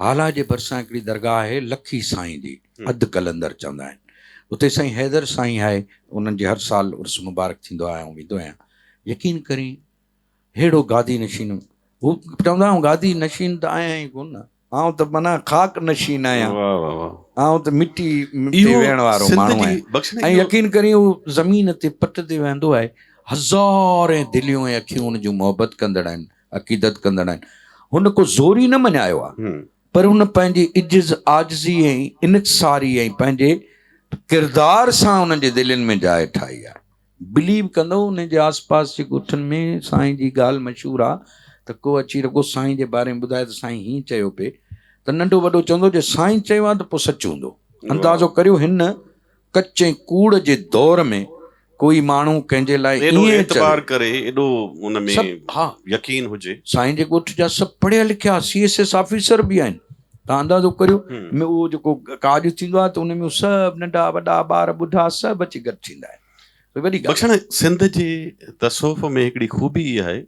هالا جي ڀرسان هڪڙي درگاهه آهي لکي سائين جي اڌ قلندر چوندا آهن اتي سائين حيدر سائين آهي انهن جي هر سال عرس مبارڪ ٿيندو آهي آئون ويندو آهيان يقين ڪرين ههڙو گادي نشين هو چوندا آهن گادي نشين ته آهيان ئي ڪون نه آئون ته معنيٰ خاڪ نشين آهيان آئون ته مٽي تي ويهڻ وارو ماڻهو آهيان ۽ يقين ڪرين هو زمين تي پٽ تي ويهندو آهي هزارين دليون ۽ اکيون ان جون محبت ڪندڙ آهن عقيدت ڪندڙ آهن هن ڪو زوري نه مڃايو آهي پر هن پنهنجي عجز عاجزي ۽ انڪساري ۽ پنهنجي ڪردار سان انهن جي دلين ۾ جاء ٺاهي آهي بليو ڪندو انهن جي آس پاس جي ڳوٺن ۾ سائين جي ڳالهه مشهور آهي ته ڪو اچي رڳو سائين جي باري ۾ ٻڌائي ته سائين هيئن چيو پئي ته ننڍو وڏو چوندو جي سائين چيو آهي ته پوء سچ هوندو اندازو ڪريو هن ڪچي ڪوڙ جي دور ۾ ڪوئي ماڻهو ڪنهن جي لاء ايڏو ائين چوي. اعتبار ڪري، ايڏو ان ۾ سڀ ها. يقين هجي. سائين جي ڳوٺ جا سڀ پڙهيا لکيا سي ايس ايس آفيسر به آهن. توهان اندازو ڪريو ۾ اهو جيڪو ڪاڄ ٿيندو آهي ته ان ۾ سڀ ننڍا وڏا ٻار ٻڍا سڀ اچي گڏ ٿيندا آهن. وڏي ڳالهه. بخشڻ سنڌ جي تصوف ۾ هڪڙي خوبي اها آهي.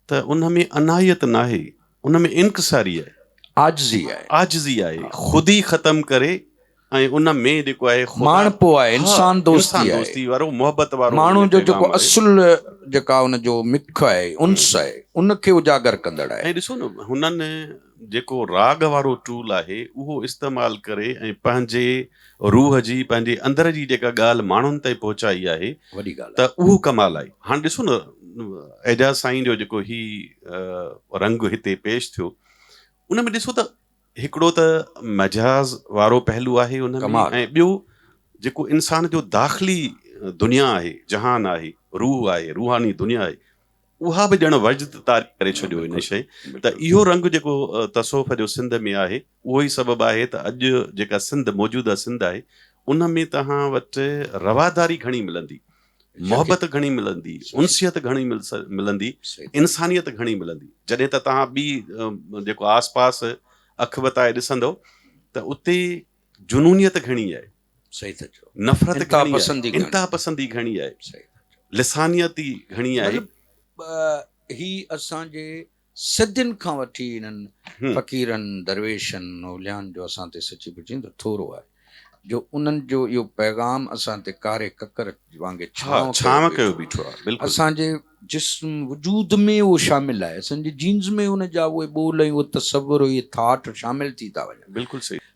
ته ان ۾ انايت ناهي، ان ۾ انڪساري آهي. عاجزي آهي. عاجزي آهي. خودي ختم ڪري ۽ ان ۾ جيڪو آهي خدا. ماڻهپو آهي، انسان دوستي آهي. انسان دوستي وارو، محبت وارو. ماڻهو جو جيڪو اصل جيڪا ان جو مک آهي، انس آهي، ان کي اجاگر ڪندڙ آهي. ۽ ڏسو نه هنن. جيڪو راڳ وارو ٽول آهي اهو استعمال ڪري ۽ پنهنجي روح جي پنهنجي اندر جي جيڪا ڳالهه ماڻهن تائين پهچائي آهي وڏي ڳالهه ته آهي. اهو ڪمال آهي هاڻ ڏسو نه اعجاز سائين جو جيڪو هي رنگ هتي پيش ٿيو ان ۾ ڏسو ته هڪڙو ته مجاز وارو پهلو آهي ان ۾ ڪمال ۽ ٻيو جيڪو انسان جو داخلي دنيا آهي جهان آهي روح آهي روحاني دنيا آهي اها به ڄڻ وجد طاري ڪري ڇڏيو هن شيء ته اهو رنگ جيڪو تصوف جو سنڌ ۾ آهي اهو ئي سبب آهي ته اڄ جيڪا سنڌ موجوده سنڌ آهي ان ۾ توهان وٽ رواداري گهڻي ملندي محبت گهڻي ملندي انسيت گهڻي ملندي انسانيت گهڻي ملندي جڏهن ته توهان ٻي جيڪو آس پاس اک وتائي ڏسندو ته اتي جنونيت گهڻي آهي انتهاپسندي گهڻي آهي، لسانياتي گهڻي آهي. مطلب هي اسان جي صدين کان وٺي انهن فقيرن، درويشن، اوليائن جو اسان تي سچي پچي ته ٿورو آهي جو انهن جو اهو پيغام اسان تي ڪاري ڪڪر وانگي ڇانو ڪيو بيٺو آهي. اسان جي جسم وجود ۾ اهو شامل آهي، اسان جي جينز ۾ ان جا اهي ٻول ۽ اهو تصور اهي ٿاٽ شامل ٿي ٿا وڃن.